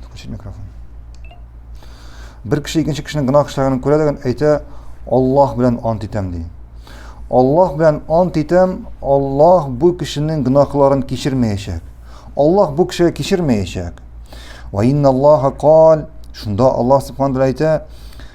Включить микрофон. Бер кеше икенче кешенең гына кешеләрен күрә дигән әйтә, Аллаһ белән ант итәм ди. Аллаһ белән ант итәм, Аллаһ бу кешенең гынахларын кичермәячәк. Аллаһ бу кешегә кичермәячәк. Ва инна Аллаһа кал, шунда Аллаһ субханаһу ва әйтә,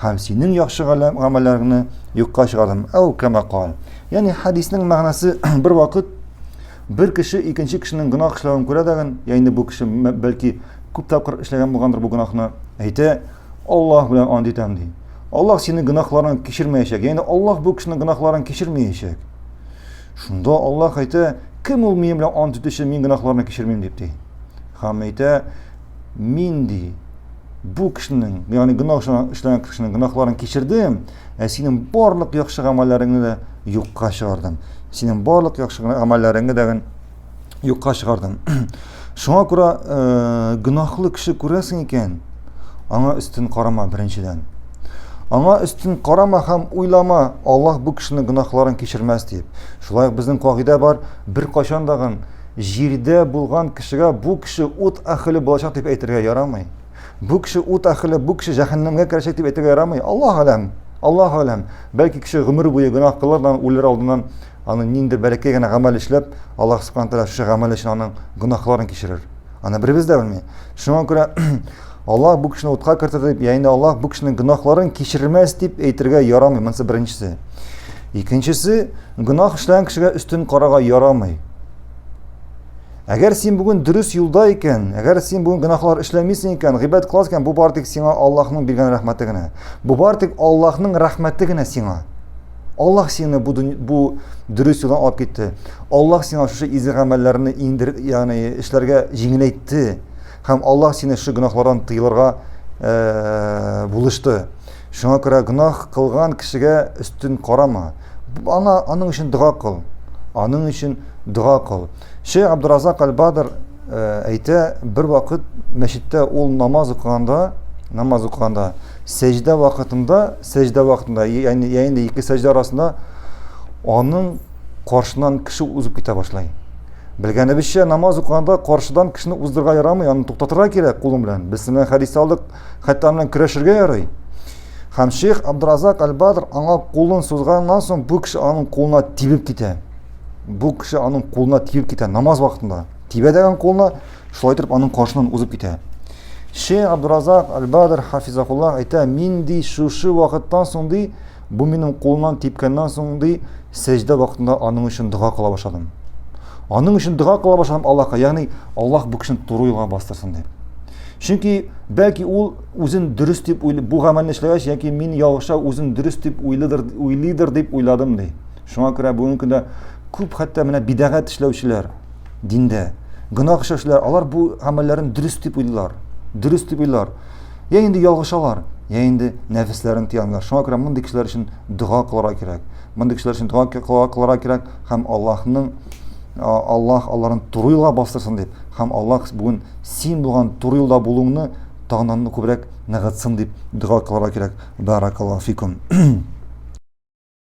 Һәм синең яхшы гамәлләреңне юкка чыгардым. Әү кәмә кал. Ягъни хәдиснең мәгънәсе бер вакыт бер кеше икенче кешенең гөнаһ эшләвен күрә дә, ягъни бу кеше бәлки күп тапкыр эшләгән булгандыр бу гөнаһны. Әйтә, Аллаһ белән ант итәм ди. Аллаһ синең гөнаһларың кичермәячәк. Ягъни Аллаһ бу кешенең гөнаһларын кичермәячәк. Шунда Аллаһ әйтә, кем ул минем белән ант итүче, мин гөнаһларны кичермим дип ди. Һәм әйтә, мин ди бу кешенең ягъни гөнаһ эшләгән кешенең гөнаһларын кичердем ә синең барлык яхшы гамәлләреңне дә юкка чыгардым синең барлык яхшы гамәлләреңне дә юкка чыгардым шуңа күрә э, гөнаһлы кеше күрәсең икән аңа өстен карама беренчедән аңа өстен карама һәм уйлама аллаһ бу кешенең гөнаһларын кичермәс дип шулай ук безнең кагыйдә бар бер кайчан җирдә булган кешегә бу кеше ут әхеле булачак дип әйтергә ярамый. Бу кеше ут әхеле, бу кеше җәһәннәмгә керәчәк дип әйтергә ярамый. Аллаһ алам, Аллаһ алам. Бәлки кеше гомер буе гөнаһ кылар да үлер алдыннан аны ниндер бәләкәй генә гамәл эшләп, Аллаһ субхана тәгалә шушы гамәл өчен аның гөнаһларын кичерер. Аны беребез дә белми. Шуңа күрә Аллаһ бу кешене утка кертер дип, яинә Аллаһ бу кешенең гөнаһларын кичермәс дип әйтергә ярамый. Монысы беренчесе. Икенчесе, гөнаһ эшләгән кешегә өстен карага ярамый. Әгәр син бүген дөрес юлда икән, әгәр син бүген гөнаһлар эшләмисең икән, гыйбадәт кыласың икән, бу бар тик сиңа Аллаһның биргән рәхмәте генә. Бу бар тик Аллаһның рәхмәте генә сиңа. Аллаһ сине бу, бу дөрес юлдан алып китте. Аллаһ сиңа шушы изге гамәлләрне иңдер, ягъни эшләргә җиңеләйтте. Һәм Аллаһ сине шушы гөнаһлардан тыелырга э, булышты. Шуңа күрә гөнаһ кылган кешегә өстен карама. Аңа аның өчен дога кыл. Аның өчен дога кыл. Шейх Абдуразак Аль-Бадр э, әйтә, бер вакыт мәчеттә ул намаз укыганда, намаз укыганда Сәҗдә вакытында, сәҗдә вакытында, яни яни ике сәҗдә арасында аның каршынан кеше узып китә башлый. Белгәнебезчә, намаз укыганда каршыдан кешене уздырга ярамый, аны туктатырга кирәк кулың белән. Без синнән хәдис алдык, хәтта аны көрәшергә ярый. Һәм шейх Абдразак Аль-Бадр аңа кулын сузганнан соң бу кеше аның кулына тибеп китә. Бу кеше аның кулына тибеп китә намаз вакытында. Тибә дигән кулына Шулай итеп аның каршынан узып китә. Шейх Абдуразак Аль-Бадр Хафизакуллах әйтә, мин ди шушы вакыттан соң ди, бу минем кулымнан типкәннән соң ди, сәҗдә вакытында аның өчен дога кыла башладым. Аның өчен дога кыла башладым Аллаһка, ягъни Аллаһ бу кешене туры юлга бастырсын дип. Чөнки бәлки ул үзен дөрес дип уйлый, бу гамәлне эшләгәч, яки мин ялгыша үзен дөрес дип уйлыдыр, уйлыйдыр дип уйладым ди. Шуңа күрә бүгенге көндә күп хәтта менә бидагат эшләүчеләр, диндә. Гөнаһ эшләү эшләр, алар бу гамәлләрен дөрес дип уйлар. Дөрес дип уйлар. Я инде ялгышалар, я инде нәфесләрен тыялар. Шуңа күрә мондый кешеләр өчен дога кылырга кирәк. Мондый кешеләр өчен дога кылырга кирәк һәм Аллаһның Аллаһ аларын туры юлга бастырсын дип, һәм Аллаһ бүген син булган туры юлда булуыңны тагыннан күбрәк ныгытсын дип дога кылырга кирәк. Баракаллаһу фикум.